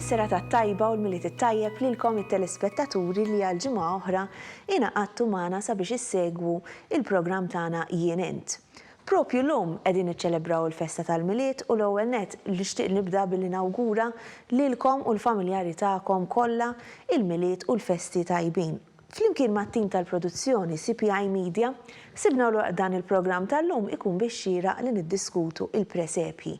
Is-serata t-tajba u l-Milied it-tajjeb lilkom it-telespettaturi li għal ġimgħa oħra ingħaqadtu magħna sabiex issegwu il-programm tagħna Jien Int. Propju llum qegħdin niċċelebraw il-festa tal-Milied u l-ewwel nett nixtieq nibda billi nawgura lilkom u l-familjari tagħkom kollha il-Milied u l-festi tajbin. Flimkien mat-tim tal-produzzjoni CPI Media ħsibna l dan il-programm tal-lum ikun bix-xieraq li niddiskutu il-presepji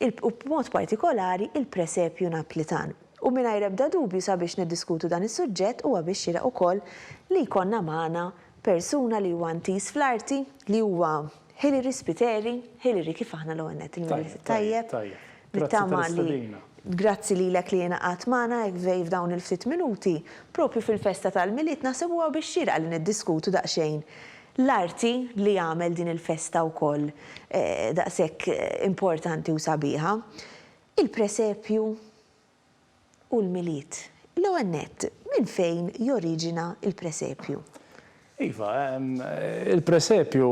il u b'mod partikolari il-presepju Naplitan. U mingħajr ebda dubju sabiex niddiskutu dan is-suġġett huwa bix-xieraq ukoll li jkollna magħna Persuna li huwa intiż fl-arti, li huwa Hilary Spiteri, Hilary kif aħna l-ewwel nett il-Milied tajjeb. Tajjeb, tajjeb. Grazzi tal-istedina. Grazzi lilek li ingħaqadt magħna hekk vej f'dawn il-ftit minuti, propju fil-festa tal-Milied naħseb huwa bix-xierqa li niddiskutu daqsxejn l-arti li għamel din il-festa wkoll daqshekk importanti u sabiħa. Il-presepju. u l-Milied. L-ewwel nett, minn fejn joriġina l-presepju? Iva, il-presepju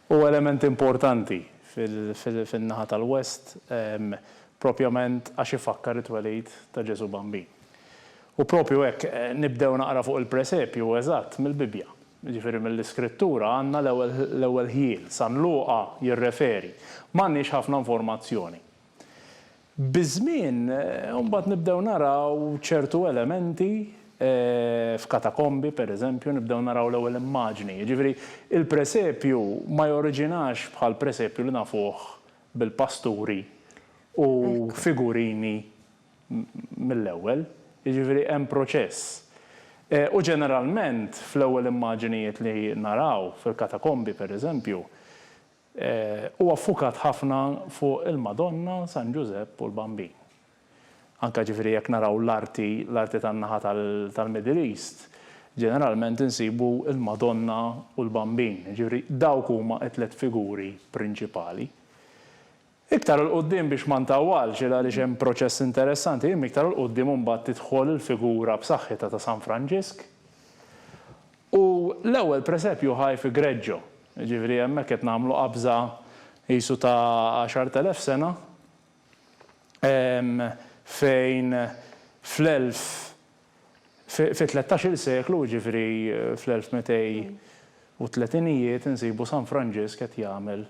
hu element importanti fin-naħa tal-West propjament għax ifakkar it-twelid ta' Ġesù Bambin. U propju hekk nibdew naqra fuq il-presepju eżatt mill-Bibbja, jiġifieri mill-Iskrittura għandna l-ewwel ħjiel. San Luqa jirreferi. M'għandniex ħafna informazzjoni. Biż-żmien, imbagħad nibdew naraw ċertu elementi f'katakombi, pereżempju, nibdew naraw l-ewwel immaġni. Jiġifieri, il-presepju ma joriġinax bħall-presepju li nafuh bil-pasturi u figurini mill-ewwel. Jiġifieri, hemm proċess. U ġeneralment, fl-ewwel immaġinijiet li naraw fil-katakombi, pereżempju, Huwa ffukat ħafna fuq il-Madonna, San Ġużepp u l-Bambin. Anke ġifieri jekk naraw l-arti, l-arti tan-naħa tal-Middle East, ġeneralment insibu l-Madonna u l-Bambin. Jiġifieri dawk huma t-tliet figuri prinċipali. Iktar 'l quddiem biex ma ntawwalx il għaliex hemm proċess interessanti imma iktar 'l quddiem imbagħad tidħol il-figura b'saħħitha ta' San Franġisk u l-ewwel presepju ħaj fi Greggio, jiġifieri hemmhekk qed nagħmlu qabża qisu ta' għaxart elef sena fejn fl-elf Fit-tlettax-il seklu, jiġifieri fl-1230ijiet, insibu San Franġisk qed jagħmel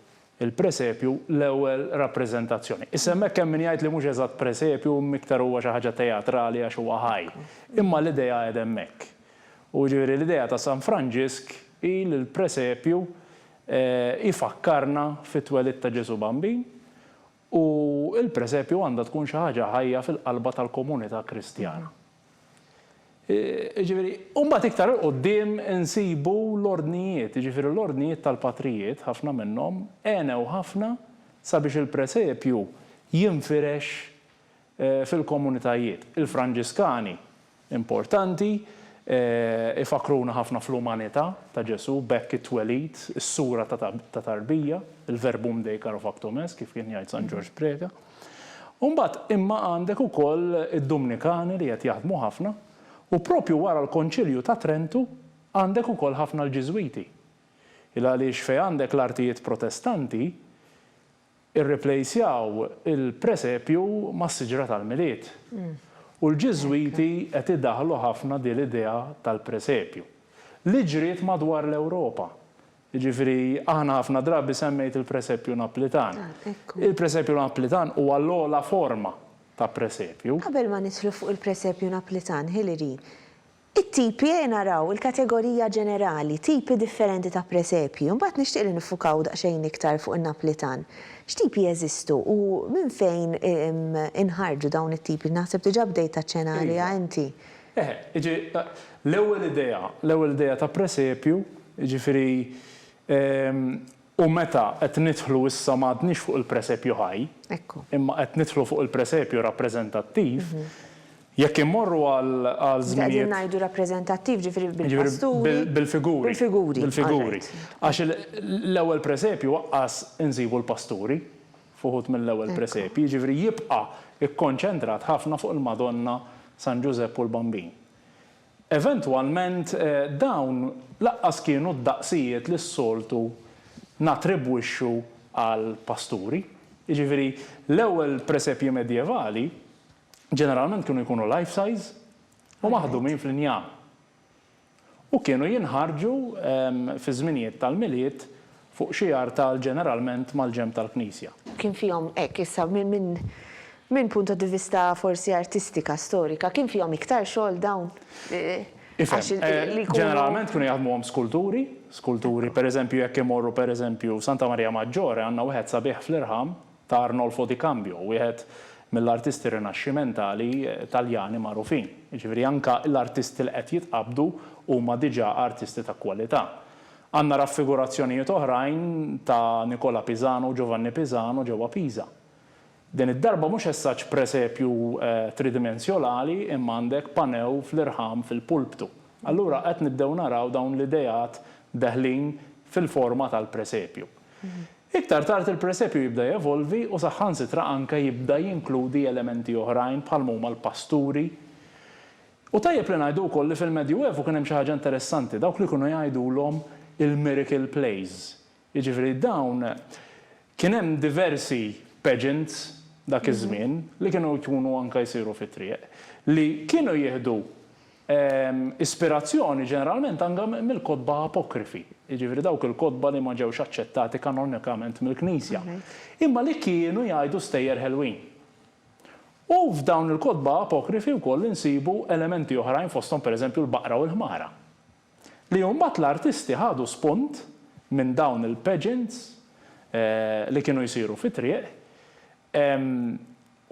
il-presepju, l-ewwel rappreżentazzjoni. Issa hemmhekk hemm min jgħid li mhux eżatt presepju, imma iktar huwa xi ħaġa teatrali għax huwa ħaj. Imma l-idea qiegħda hemmhekk. U jiġifieri l-idea ta' San Franġisk hi li l-presepju ifakkarna fit-twelid ta' Ġesù Bambin U l-presepju għandha tkun xi ħaġa ħajja fil-qalba tal-komunità Kristjana. Jiġifieri, u mbagħad iktar 'il quddiem insibu l-ordnijiet, jiġifieri l-ordnijiet tal-patrijiet, ħafna minnhom, għenew ħafna sabiex il-presepju jinfirex fil-komunitajiet. Il-Franġiskani Importanti, ifakkruna ħafna fl-umanità ta' Ġesù, b'hekk it-twelid, is-sura ta' tarbija, il-Verbum Dei caro factum est, kif kien jgħid San Ġorġ Preca. U mbagħad imma għandek ukoll id-Dumnikani li qed jaħdmu ħafna, u proprju wara l-Konċilju ta' Trentu għandek ukoll ħafna l-Ġiżwiti. Il-għaliex fejn għandek l-artijiet Protestanti, Irriplejsjaw il-presepju mas-siġra tal-Milied. U l-Ġiżwiti qed idaħħlu ħafna din l-idea tal-presepju, li ġriet madwar l-Ewropa. Jiġifieri aħna ħafna drabi semmejt il-presepju Naplitan. Il-presepju Naplitan huwa l-ogħla forma ta' presepju. Qabel ma nidħlu fuq il-presepju Naplitan, Hilary, It-tipi, ejja naraw il-kategorija ġenerali, tipi differenti ta' presepji, u mbagħad nixtieq li niffukaw daqsxejn iktar fuq in-Naplitan. X'tipi jeżistu u minn fejn inħarġu dawn it-tipi? Naħseb diġà bdejt taċċena għaliha inti. Eħe, jiġri l-ewwel idea, l-ewwel idea ta' presepju, jiġifieri U meta qed nidħlu issa ma għadniex fuq il-presepju ħaj, Ekku. imma qed nidħlu fuq il-presepju rappreżentattiv, jekk immorru għal Qegħdin żminijiet, ngħidu rappreżentattiv, ġifieri ġifieri bil-pasturi, bil, bil-figuri, bil-figuri, bil-figuri, all right. għax il, l-ewwel presepju aqqas insibu l-pasturi f'uħud mill-ewwel presepji, jiġifieri jibqa' kkonċentrat ħafna fuq il-Madonna, San Ġużepp u l-Bambin. Eventwalment, dawn lanqas kienu d-daqsijiet li s-soltu nattribwixxu għal pasturi. Jiġifieri, l-ewwel presepji medjevali ġeneralment kienu jkunu life-size u maħdumin fl-injam. U kienu jinħarġu fi żminijiet tal-Milied Fuq xi artal ġeneralment mal-ġenb tal-knisja. Kien fihom, hekk issa minn punto di vista forsi artistika, storika, kien fihom iktar xogħol dawn? Ifhem, ġeneralment kienu jaħdmuhom skulturi, skulturi pereżempju jekk imorru pereżempju f'Santa Maria Maggiore għandna wieħed sabiħ fl-irħam ta' Arnolfo di Cambio, wieħed mill-artisti rinaxximentali Taljani magħrufin. Jiġifieri anke l-artisti li qed jitqabbdu huma diġà artisti ta' kwalità. Għandna raffigurazzjonijiet oħrajn ta' Nikola Pisano u Giovanni Pisano ġewwa Pisa. Din id-darba mhux essaġġ presepju tridimensjolali imma għandek panew fl-irħam fil-pulptu. Allura qed nibdew naraw dawn l-ideat deħlin fil-forma tal-presepju. Iktar tard il-presepju jibda jevolvi u saħħansitra anke jibda jinkludi elementi oħrajn bħalma huma l-pasturi U tajjeb li ngħidu wkoll li fil-Medjuevu kien hemm xi ħaġa interessanti, dawk li kienu jgħidulhom il-miracle plays. Jiġifieri dawn kien hemm diversi pageants dak iż-żmien li kienu jkunu anke jsiru fit-triq li kienu jieħdu ispirazzjoni ġeneralment anke mill-kotba apokrifi, jiġifieri dawk il-kotba li ma ġewx aċċettati kanonikament mill-Knisja, imma li kienu jgħidu stejjer ħelwin. U f'dawn il-kotba apokrifi wkoll insibu elementi oħrajn fosthom pereżempju l-baqra u l-ħmara. Li mbagħad l-artisti ħadu spunt minn dawn il-pageants li kienu jsiru fit-triq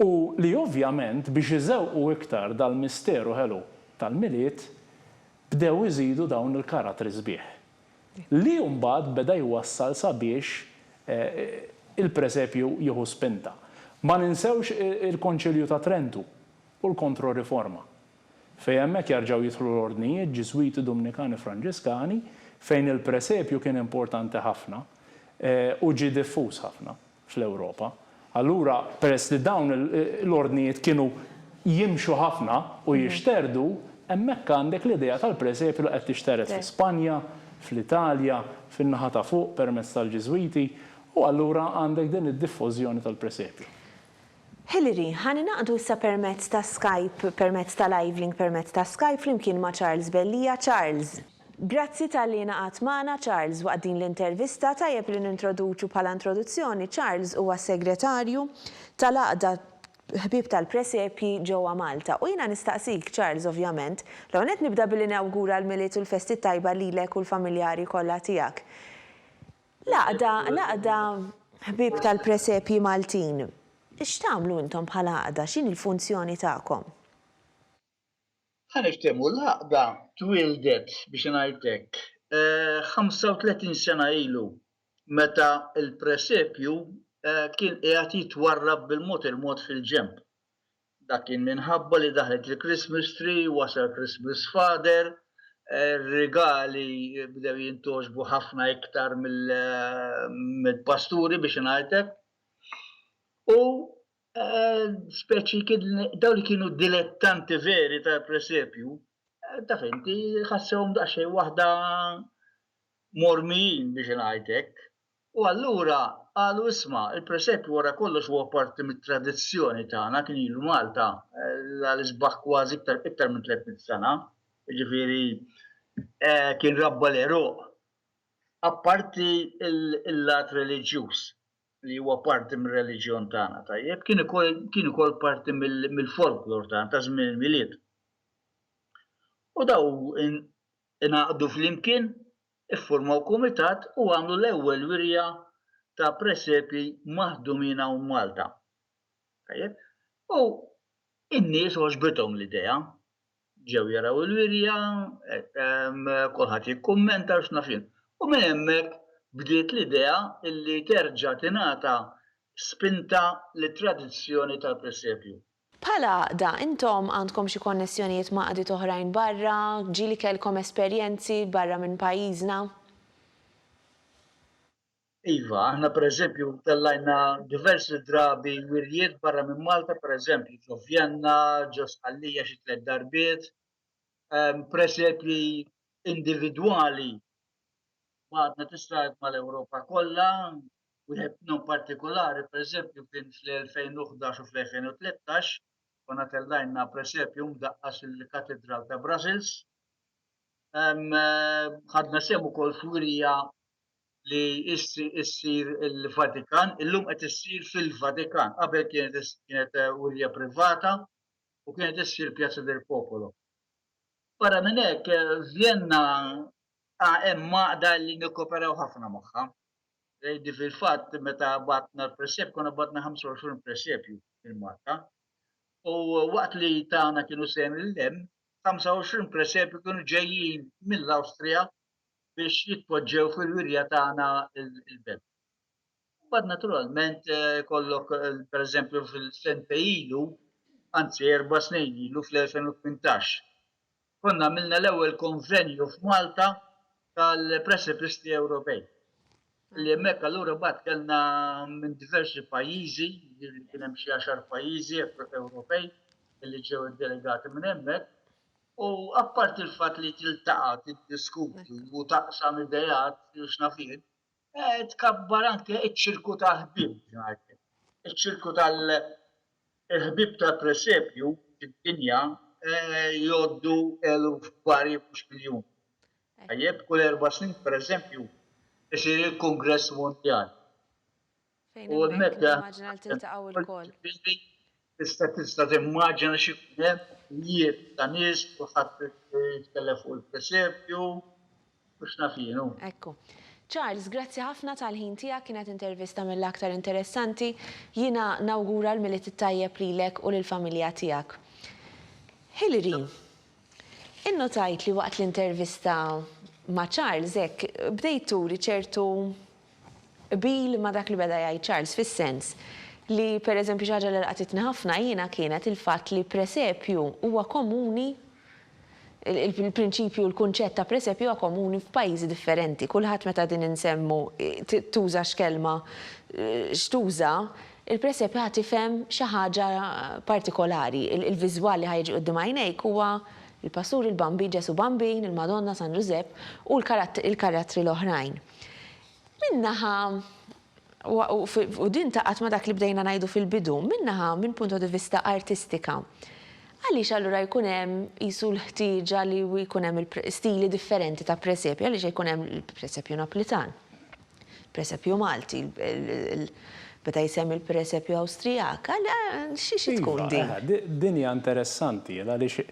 u li ovvjament biex iżewqu iktar dal-misteru ħelu tal-Milied bdew iżidu dawn il-karattri sbieħ. Li mbagħad beda jwassal sabiex il-presepju jieħu spinta. Ma ninsewx il-Konċilju ta' Trentu u l-Kontroriforma, fejn hemmhekk jarġgħu jidħlu l-ordnijiet Ġiżwiti, Dumnikani, Franġiskani, fejn il-presepju kien importanti ħafna u ġie diffuż ħafna. fl-Ewropa. Allura, peress li dawn l-ordnijiet kienu jimxu ħafna u jixterdu, hemmhekk għandek l-idea tal-presepju li qed tixtered fi Spanja, fl-Italja, fin-naħa ta' fuq permezz tal-Ġiżwiti, u allura għandek din id-diffożjoni tal-presepju. Hilary, ħa ningħaqdu issa permezz ta' Skype, permezz ta' live link permezz ta' Skype flimkien ma' Charles Bellija. Charles. Grazzi talli ingħaqadt magħna Charles waqt din l-intervista. Tajjeb li nintroduċu bħala introduzzjoni, Charles huwa Segretarju tal-Għaqda Ħbieb tal-Presepji ġewwa Malta. U jiena nistaqsik, Charles, ovvjament, l-ewwel nett nibda billi nawgura l-Milied u l-Festi t-tajba lilek u l-familjari kollha tiegħek. L-Għaqda, l-Għaqda Ħbieb tal-Presepji Maltin, x'tagħmlu intom bħala Għaqda? X'inhi l-funzjoni tagħkom? Ħa niftehmu, l-għaqda twieldet, biex ingħid hekk, 35 sena ilu meta l-presepju kien qiegħed jitwarrab bil-mod il-mod fil-ġenb. Dak kien minħabba li daħlet il-Christmas Tree, wasal Christmas Father, ir-rigali bdew jintgħoġbu ħafna iktar mill-pasturi, biex ingħid hekk, u Eh, speċi daw li kienu dilettanti veri ta' presepju, eh, ta' fenti ħassewhom daqsxejn waħda mormijin biex ngħidlek. U allura qalu isma' il-presepju wara kollox huwa parti mit-tradizzjoni tagħna kien ilu Malta eh, l-isbaħ kważi iktar minn 300 sena. Ġifieri kien rabba l-eruq. Apparti il-lat reliġjuż li huwa parti mir-reliġjon tagħna, tajjeb, kien ukoll kien ukoll parti mill-folklor tagħna ta' żmien il-Milied. U daw ingħaqdu flimkien, iffurmaw kumitat u għamlu l-ewwel wirja ta' presepi maħdumin hawn Malta. Tajjeb? U in-nies għoġbithom l-idea ġew jaraw il-wirja, kulħadd jikkummenta u x'naf jien. U minn hemmhekk bdiet l-idea li terġa' tingħata spinta lit-tradizzjoni tal-presepju. Bħala għaqda, intom għandkom xi konnessjonijiet ma' għaqdiet oħrajn barra? Ġieli kellkom esperjenzi barra minn pajjiżna? Iva, aħna pereżempju tellajna diversi drabi wirjiet barra minn Malta, pereżempju ġo Vjenna, ġo Sqallija xi tliet darbiet, ehm, presepji individwali għadna tistajt mal-Ewropa kollha, wieħed minnhom partikolari, pereżempju kien fl-2011 u fl-2013, konna tellajna presepju mdaqqas il-Katedral ta' Brussels. Ehm, ħadna sehem ukoll f'wirja li issir il-Vatikan, illum qed issir fil-Vatikan, qabel kienet kienet eh, wirja privata u kienet issir Pjazza del Popolo. Barra minn hekk, eh, Vienna ah, hemm maqda li nikkoperaw ħafna magħha. Eh, di fil-fatt meta batna l-presep, konna batna 25 presepju il-Malta. U waqt li tagħna kienu sejn il-lem, 25 presepju kienu ġejjin mill-Awstrija biex jitpoġġew fil-wirja tagħna l-belt. Bad naturalment eh, kollok eh, per eżempju fil-sente ilu, anzi erba snin ilu fl-2018. Konna għamilna l-ewwel konvenju f'Malta tal-Precipisti Ewropej. Li hemmhekk allura bad kellna minn diversi pajjiżi, li kien hemm xi għaxar pajjiżi Ewropej li ġew iddelegati minn hemmhekk, U apparti l-fatt li tiltaqa' tiddiskuti u taqsam ideat u x'naf jien, tkabbar anke ċ-ċirku ta' ħbieb ġenerali. Iċ-ċirku tal-ħbieb tal-presepju fid-dinja jgħoddu eluf varji mhux miljuni. Tajjeb, kull erba' snin, pereżempju, isir il-Kungress Mondjali. Fejn hemmhekk nimmaġina li tiltaqgħu lkoll. Tista' tista' timmaġina x'ikun hemm, mijiet ta' nies, kulħadd jitkellem fuq il-presepju, u x'naf jien hu. Ekku. Charles, grazzi ħafna tal-ħin tiegħek, kienet intervista mill-aktar interessanti. Jiena nawgura l-Milied it-Tajjeb lilek u lill-familja tiegħek. Hilary, innotajt li waqt l-intervista ma' Charles hekk bdejt turi ċertu Qbil ma' dak li beda jgħid Charles fis-sens li, per eżempju, xi ħaġa li laqatitni ħafna jiena kienet il-fatt li presepju huwa komuni, il-prinċipju, il-kunċett ta' presepju huwa komuni f'pajjiżi differenti. Kulħadd meta din insemmu, tuża x'kelma x'tuża, il-presepju ħa tifhem xi ħaġa partikolari. Il-viżwal li ħa jiġi quddiem għajnejk huwa l-pastur, il-Bambi, Ġesù Bambin, il-Madonna, San Ġużepp u l-karattri l-oħrajn. Minn naħa, u din taqgħad ma' dak li bdejna ngħidu fil-bidu, minn naħa, minn punto di vista artistika, għaliex allura jkun hemm qisu l-ħtieġa li jkun hemm stili differenti ta' presepju, għaliex ikun hemm il-presepju Naplitan, il-presepju Malti, beda jsemmi l-presepju Awstrijak, xi tkun din? Din hija interessanti għaliex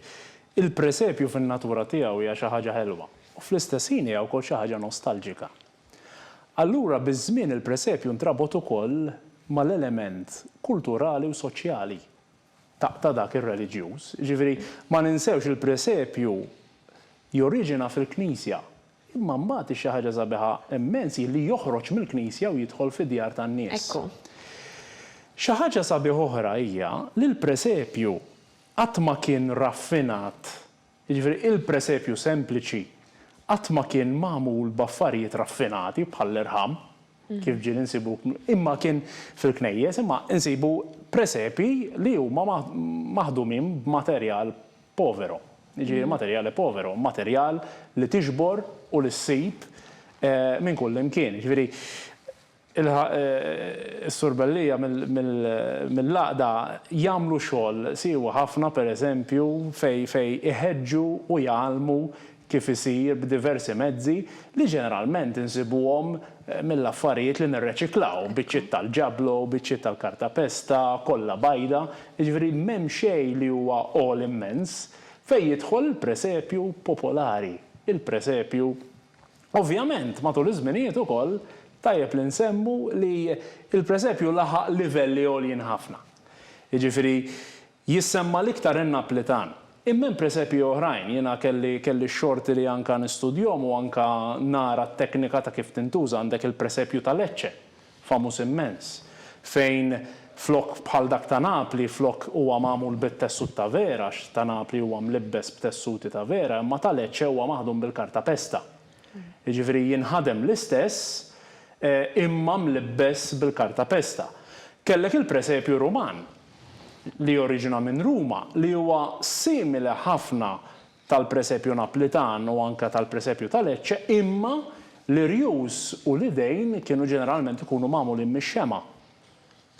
il-presepju fin-natura tiegħu hija xi ħaġa ħelwa. u fl-istess ħin hija wkoll xi ħaġa nostalġika. Allura biż-żmien il-presepju ntrabot ukoll mal-element kulturali u soċjali ta' dak ir-reliġjuż. Jiġifieri ma ninsewx il-presepju joriġina fil-knisja imma mbagħad hi xi ħaġa sabiħa immens hi li joħroġ mill-knisja u jidħol fid-djar tan-nies. Xi ħaġa sabiħa oħra hija li l-presepju qatt ma kien raffinat Jiġifieri, il-presepju sempliċi qatt ma kien magħmul b'affarijiet raffinati bħall-irħam, kif ġieli nsibu, imma kien fil-knejjes, imma nsibu presepji li huma maħdumin b'materjal povero, jiġifieri materiale povero, materjal li tiġbor u li ssib minn kullimkien. Jiġifieri, Ilħaq is-Sur Bellia mill-Għaqda jagħmlu xogħol siewi ħafna pereżempju fejn iħeġġu u jgħallmu kif isir b'diversi mezzi li ġeneralment insibuhom mill-affarijiet li nirreċiklaw, biċċiet tal-ġablo, biċċiet tal-kartapesta, kolla bajda, jiġifieri m'hemm xejn li huwa għoli mmens, fejn jidħol il-presepju popolari, il-presepju Ovvjament, matul iż-żminijiet ukoll tajjeb li nsemmu li l-presepju laħaq livelli għoljin ħafna. Jiġifieri, jissemma l-iktar in-Naplitan. Imma hemm presepji oħrajn, jiena kelli kelli x-xorti li anke nistudjhom u anke nara t-teknika ta' kif tintuża, għandek il-presepju ta' Lecce. famuż immens, fejn flokk bħal dak ta' Napli, flokk huwa magħmul bit-tessut ta' vera, għax ta' Napli huwa mlibbes b'tessuti ta' vera, imma ta' Lecce huwa maħdum bil-karta pesta. Jiġifieri jinħadem l-istess, imma mlibbes bil-karta pesta. Kellek il-presepju Ruman, li joriġina minn Ruma, li huwa simili ħafna tal-presepju Naplitan u anke tal-presepju ta' Lecce, imma l-irjus u l-idejn kienu ġeneralment ikunu magħmulin mix-xemgħa,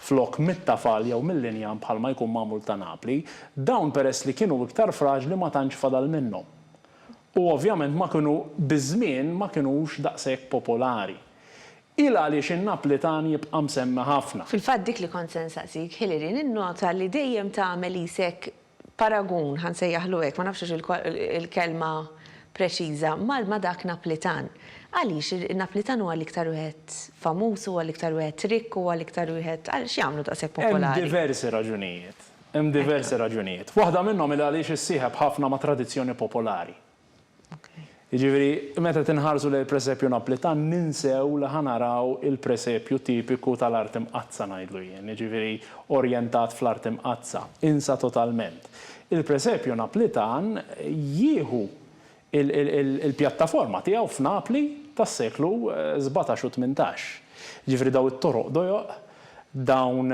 flok mit-tafal jew mill-injam bħalma jkun magħmul ta' Napli. Dawn peress li kienu iktar fraġli ma tantx fadal minnhom. U ovvjament ma kienu, biż-żmien ma kinux daqshekk popolari. Hi l-għaliex in-Naplitan jibqa' msemmi ħafna. Fil-fatt dik li kont se nsaqsik, Hilary, ninnota li dejjem tagħmel qisek paragun, ħa nsejjaħlu hekk, ma nafx hux il-kelma preċiża, ma' dak Naplitan. Għaliex in-Naplitan huwa l-iktar wieħed famuż, huwa l-iktar wieħed rikk, huwa l-iktar wieħed, għal x'jagħmlu daqshekk popolari? Hemm diversi raġunijiet. Hemm diversi raġunijiet. Waħda minnhom hi għaliex issieħeb ħafna ma' tradizzjoni popolari. Jiġifieri, meta qed inħarsu lejn il-presepju Naplitan ninsew li ħa naraw il-presepju tipiku tal-Art Imqaddsa ngħidlu jien, jiġifieri orjentat fl-Art Imqaddsa. Insa totalment. Il-presepju Naplitan jieħu l-pjattaforma tiegħu f'Napli tas-seklu sbatax u tmintax. Jiġifieri dawn it-toroq dojoq Dawn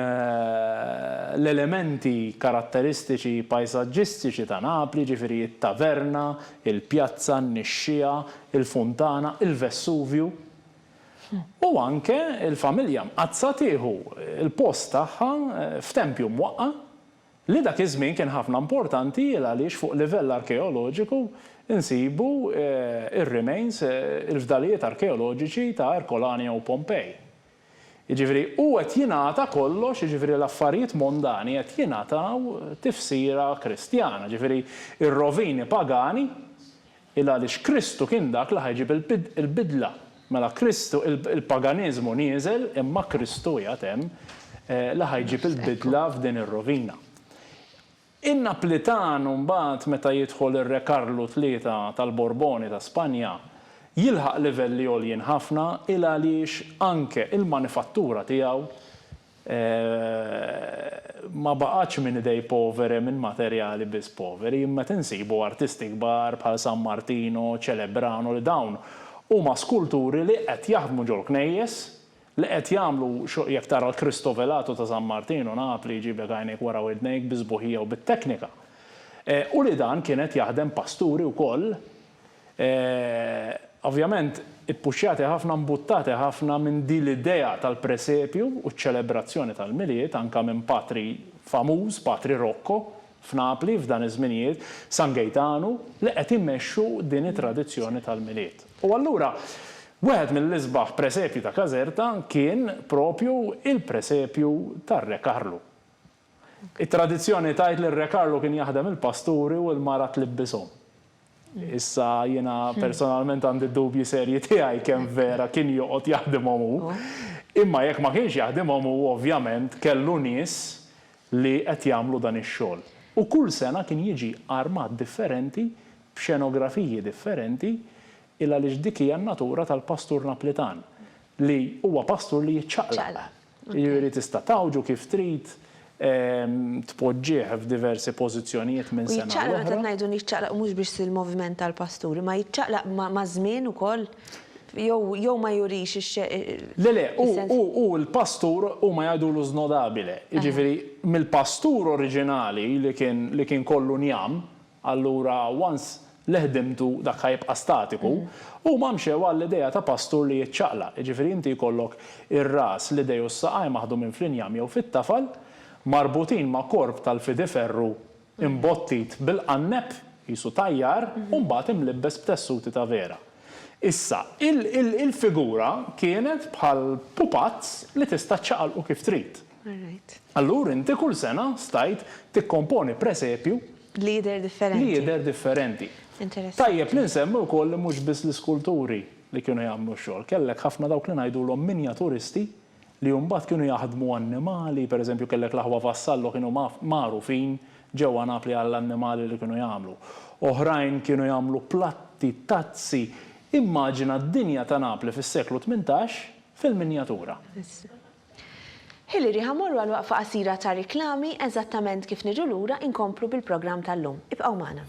l-elementi karatteristiċi pajsaġġistiċi ta' Napli, jiġifieri t-taverna, il-pjazza, n-nixxiegħa, il-funtana, il-Vessuvju, u anke l-familja Mqaddsa tieħu l-post tagħha f'tempju mwaqqa' li dak iż-żmien kien ħafna importanti għaliex fuq livell arkeoloġiku nsibu r-remains, il-fdalijiet arkeoloġiċi ta' Ercolania u Pompei. Jiġifieri, hu qed jingħata kollox, jiġifieri l-affarijiet mondani qed jingħataw tifsira Kristjana, jiġifieri r-rovini pagani, il-għaliex Kristu kien dak li ħa jġib il-bidla. Mela Kristu, il-paganiżmu nieżel imma Kristu qiegħed hemm li ħa jġib il-bidla f'din ir-rovina. In-Naplitanu mbagħad meta jidħol ir-Re Karlu Tlieta tal-Borboni ta' Spanja jilħaq livelli għoljin ħafna il għaliex anke il-manifattura tiegħu ma baqgħetx minn idej povere minn materjali biss poveri imma qed insibu artisti kbar bħal San Martino, Celebrano li dawn huma skulturi li qed jaħdmu ġol-knejjes Li qed jagħmlu xogħ jekk tara l-Kristo Velatu ta' San Martinu, Napli, jġiblek għajnejk wara widnejk bis-sbuħija u bit-teknika. U li dan kien qed jaħdem Pasturi wkoll, ovvjament ippuxxjati ħafna, mbuttati ħafna minn din l-idea tal-presepju u ċ-ċelebrazzjoni tal-Milied, anke minn Patri famuż, Patri Rocco, f'Napli, f'dan iż-żminijiet, San Gejtanu, li qed imexxu din it-tradizzjoni tal-Milied. U allura, wieħed mill-isbaħ presepji ta' Caserta kien proprju l-presepju tar-Re Karlu. It-tradizzjoni tgħid li r-Re Karlu kien jaħdem il-pasturi u l-mara tlibbishom. Issa jiena personalment għandi d-dubji serji tiegħi kemm vera kien joqgħod jaħdimhom hu, imma jekk ma kienx jaħdimhom hu ovvjament kellu nies li qed jagħmlu dan ix-xogħol. U kull sena kien jiġi armat differenti f'xenografiji differenti, il għaliex dik hija n-natura tal-pastur Naplitan, li huwa pastur li jiċċaqlaq. Jiġifieri tista' tgħawġu kif trid, tpoġġih f'diversi pożizzjonijiet minn sena għal oħra. U jiċċaqlaq, meta ngħidu jiċċaqlaq hu mhux biss il-moviment tal-pastur, imma jiċċaqlaq maż-żmien ukoll? Jew jew ma jurix ix-xejn. Le le, hu hu hu l-pastur huma jgħidulu snodabile. Jiġifieri mill-pastur oriġinali li kien li kien kollu njam, Allura once li ħdimtu dak ħa jibqa' statiku. Huma mxew għall-idea ta' pastur li jiċċaqlaq, jiġifieri inti jkollok ir-ras, l-idej u s-saqajn maħdumin fl-injam jew fit-tafal, marbutin ma' korp tal-fidi ferru imbottit bil-qanneb, qisu tajjar, u mbagħad imlibbes b'tessuti ta' vera. Issa, il-figura kienet bħal pupazz li tista' ċċaqalqu kif trid. Allura inti kull sena stajt tikkomponi presepju li jidher differenti. Tajjeb li nsemmi wkoll li mhux biss l-iskulturi li kienu jagħmlu x-xogħol. Kellek ħafna dawk li ngħidulhom minjaturisti li mbagħad kienu jaħdmu annimali, pereżempju kellek l-aħwa Vassallo kienu magħrufin ġewwa Napli għall-annimali li kienu jagħmlu. Oħrajn kienu jagħmlu platti, tazzi. Immaġina d-dinja ta' Napli fis-seklu tmintax fil-minjatura. Ħili riħa mmorru għal waqfa qasira ta' riklami, eżattament kif niġu lura inkomplu bil-programm tal-lum. Ibqgħu magħna.